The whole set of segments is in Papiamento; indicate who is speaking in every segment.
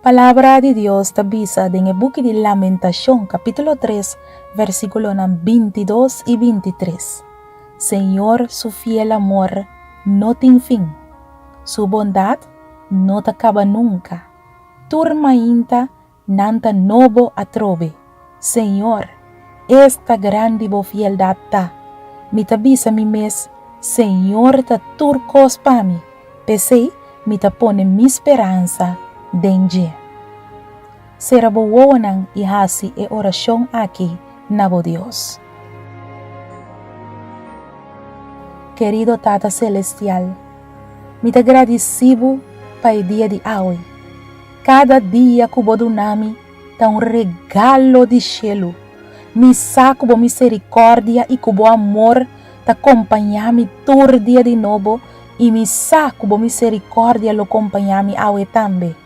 Speaker 1: Palabra di Dios ta bisa den e buki di Lamentacion capítulo 3 versiculonan bintidos y bintitres, Señor su fiel amor no tin fin, su bondad no ta caba nunca, tur mainta Nan ta nobo atrobe. Señor, es ta grandi bo fieldad ta. Mi ta bisa mi mes, Señor ta tur cos pa mi, p'esey mi ta pone mi speransa den dje. Cera bo wowonan y haci e oracion aki na bo Dios. Querido Tata Celestial, mi ta gradici Bo pa e dia di awe. Kada dia ku bo duna mi ta un regalo di shelu. Mi sa ku bo miserikòrdia i ku bo amor ta kompañá mi tur dia di nobo, i mi sa ku bo miserikòrdia lo kompañá mi awe tambe.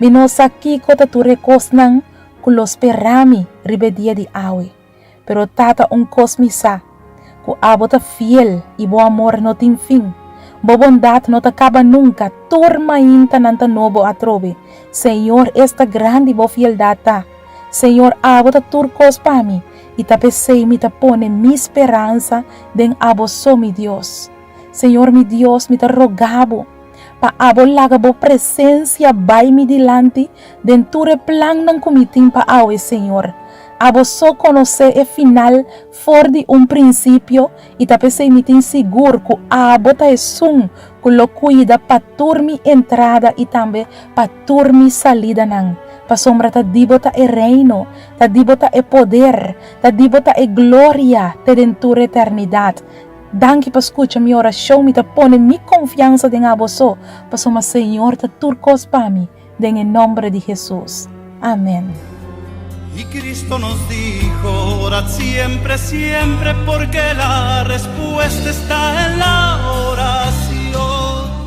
Speaker 1: Mi no sa kiko ta tur e kosnan ku lo spera mi riba e dia di awe. Pero tata un kos mi sa, ku abo ta fiel i bo amor no tin fin. Bo bondat no ta kaba nunka, tur mainta nan ta nobo atrobe. Señor, esta grandi bo fieldat ta! Señor, abo ta tur kos pa mi, i ta p'esei mi ta pone mi speransa den abo so, mi Dios. Señor mi Dios, mi ta roga bo pa abo laga bo presencia bai mi dilanti den tur e plannan cu mi tin pa awe, Señor. Abo so conoce e final for di un principio y ta pesey mi tin sigur cu abo ta esun cu lo cuida pa tur mi entrada y tambe pa tur mi salidanan. Pasobra ta di bo ta e Reino, ta di bo ta e poder, ta di bo ta e gloria te den tur eternidad. Danki pa skucha mi orashon, mi ta pone mi konfiansa den Aboso, pasobra Señor ta tur kos pa mi, den e nomber di Hesus. Amen. Y
Speaker 2: Cristo nos dijo, Orad siempre, siempre, porque la respuesta está en la oración.